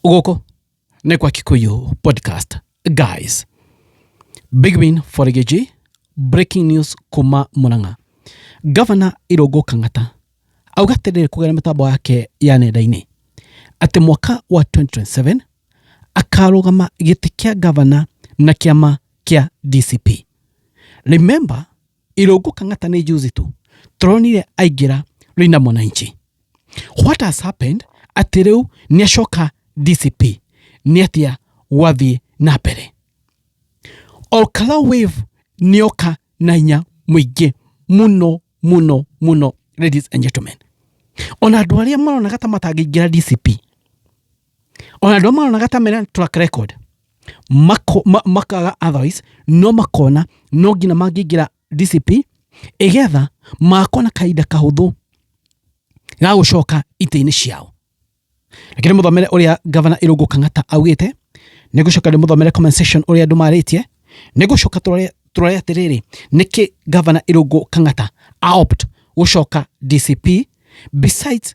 gũkũ nĩ kwa kikuyu podcast guys big win for Gĩchĩ, breaking news kuma mũrang'a gavana irũngũ kang'ata auga atĩrĩrĩ kũgerera mĩtambo yake ya nenda-inĩ atĩ mwaka wa 2027 akarũgama gĩtĩ kĩa gavana na kĩama kĩa dcp remember Irungu Kang'ata ni juzi tu turonire aingira Luina Mwananchi. What has happened ati riu ni acoka DCP ni atia gwathie na mbere. Olkara wave ni oka na hinya muingi muno muno muno ladies and gentlemen. Ona andu aria maronaga ta matangĩingĩra DCP ona andå maronaga ta mena track record mako- ma- makaga otherwise no makona no nginya mangĩingĩra dcp ĩgetha makona kahinda kahũthũ ga gũcoka itĩ-inĩ ciao reke nĩ mũthomere ũrĩa gavana irũngũ kang'ata augĩte nĩ gũcoka nĩ mũthomere comment section ũrĩa andũ marĩtie nĩ gũcoka tũrore- tũrore atĩrĩrĩ nĩkĩ gavana irũngũ kang'ata aopt gũcoka dcp besides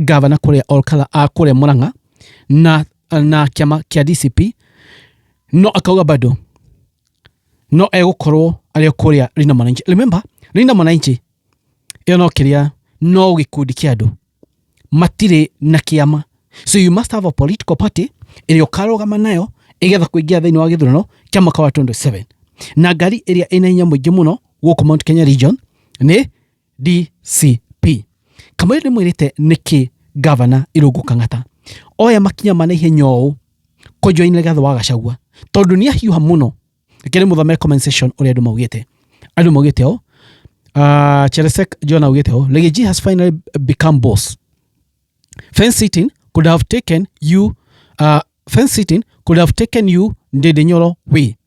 ngavana kũrĩa Olkala a kũrĩa Murang'a na, na kĩama kĩa DCP no akauga bado no egũkorwo arĩ o kũrĩa Linda Mwananchi. Remember, Linda Mwananchi ĩyo no kĩrĩa no gĩkundi kĩa andũ matirĩ na kĩama so you must have a political party ĩrĩa ũkarũgama nayo ĩgetha kũingĩra thĩinĩ wa gĩthurano kĩa mwaka wa 27 na ngari ĩrĩa ĩna hinya mũingĩ mũno gũkũ Mount Kenya region nĩ DCP. Kamau nĩ mwĩrĩte nĩkĩ gavana Irũngũ Kang'ata oya makinya ma naihenya ũũ kũnjwa-inĩ gatho wa Gachagua tondũ nĩ ahiũha mũno reke nĩ mũthomere comment section ũrĩa andũ maugĩte andũ maugĩte ũũ uh, Cheresek John augĩte ũũ Lady G has finally become boss fence sitting could have taken you uh, fence sitting could have taken you ndĩndĩ nyoro we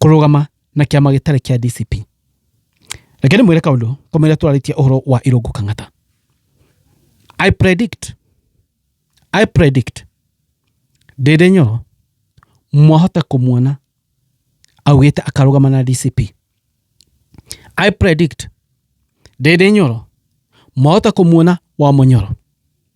kũrũgama na kĩama gĩtarĩ kĩa DCP. Reke ndĩmwĩre kaũndũ komere twarĩtie ũhoro wa Irũngũ Kang'ata. I predict, I predict Ndĩndĩ Nyoro mwahota kũmuona augĩte akarũgama na DCP. I predict Ndĩndĩ Nyoro mwahota kũmuona wa Mũnyoro.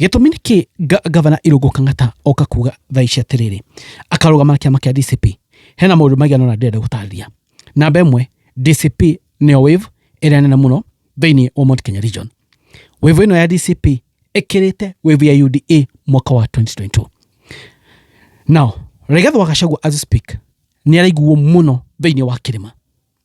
gĩtũmi nĩ kĩ gavana irũngũ kang'ata oka kuga thaa ici atĩrĩrĩ akarũgama na kĩama kĩa dcp hena maũndũ maigana ona ndĩrenda gũtarĩria namba ĩmwe dcp nĩyo wave ĩrĩa nene mũno thĩinĩ wa mount kenya region wave ĩno ya dcp ĩkĩrĩte wave ya uda mwaka wa 2022 now rigathwa gacagua as we speak nĩ araiguo mũno thĩinĩ wa kĩrĩma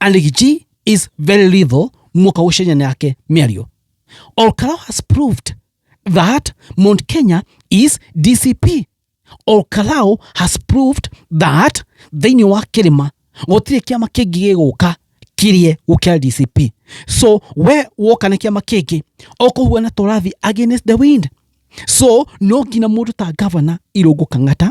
Aligi is very little mwaka ucenye nake mĩario. Olkaro has proved that Mount Kenya is DCP. Olkarao has proved that thĩinĩ wa kĩrĩma gũtirĩ kĩama kĩngĩ gĩgũka kirie gũkĩra DCP. So we woka na kĩama kĩngĩ ũkũhuana tũrathi against the wind. So no nginya mũndũ ta gavana Irũngũ Kang'ata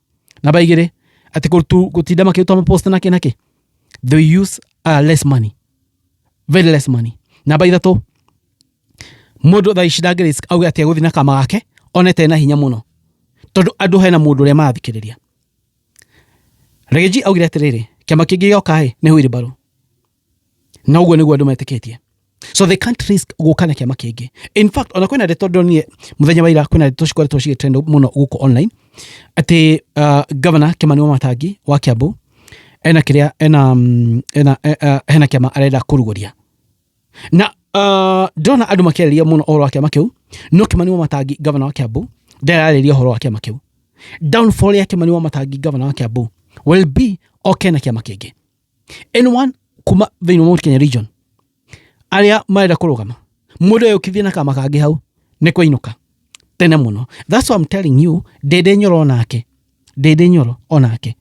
Namba igĩrĩ, atĩ gũtinda makĩruta mapost na kĩ na kĩ. They use uh, less money. Very less money. Namba ithatũ, mũndũ thaa ici ndangĩ risk auge atĩ egũthiĩ na kama gake onete na hinya mũno tondũ andũ hena mũndũ ũrĩa marathikĩrĩria. Regeji augire atĩrĩrĩ, kĩama kĩngĩ gĩoka-ĩ nĩ hũirĩ mbarũ. na ũguo nĩguo andũ metĩkĩtie so they can't risk gũka na kĩama kĩngĩ in fact ona kwĩna ndeto ndonire mũthenya wa ira kwĩna ndeto cikoretwo cigĩtrend mũno gũkũ online atĩ uh, governor Kimani Wamatangi wa Kiambu ena kĩrĩa ena mm, ena eh, eh, hena kĩama arenda kũrugũria na uh, ndĩrona andũ makĩarĩria mũno ũhoro wa kĩama kĩu no Kimani Wamatangi governor wa Kiambu ndararĩria ũhoro wa kĩama kĩu downfall ya Kimani Wamatangi governor wa Kiambu will be oke na kĩama kĩngĩ anyone kuma thĩinĩ wa Mount Kenya region arĩa marenda kũrũgama mũndũ eyũkithie na kama kangĩ hau nĩ kũinũka tene mũno that's why I'm telling you ndĩndĩ nyoro onake ndĩndĩ nyoro onake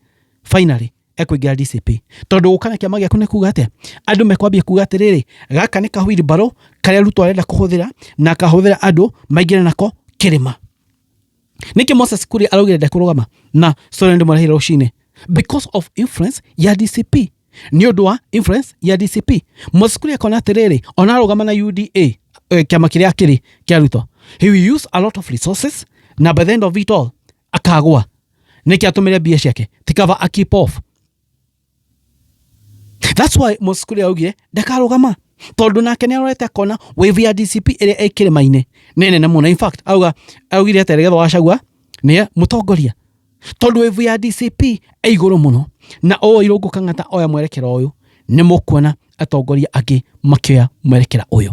finally ekũingĩra DCP tondũ gũka na kĩama gĩaku nĩ kuga atĩa andũ mekwambia kuga atĩrĩrĩ gaka nĩ kahwiri mbarũ karĩa Ruto arenda kũhũthĩra na akahũthĩra andũ maingĩre nako kĩrĩma nĩkĩ moses kuria araugire ndekũrũgama na soren ndĩmũrehire rũcinĩ because of influence ya dcp nĩ ũndũ wa influence ya dcp moses kuria akona atĩrĩrĩ ona arũgama na uda eh, kĩama kĩrĩa kĩrĩ kĩa ruto he will use a lot of resources na by the end of it all akagwa nĩkĩ atũmĩre mbia ciake tikava a keep off That's why Moses Kuria augire ndakarugama tondu nake ni arorete akona wave ya DCP ĩrĩa ĩ kĩrĩma-inĩ nĩ nene mũno in fact auga augire atĩ Rigathĩ wa Gachagua nĩ mũtongoria tondu wave ya DCP ĩ igũrũ mũno na ũũ Irũngũ Kang'ata oya mwerekera ũyũ nĩ mũkuona atongoria angĩ makĩoya mwerekera ũyũ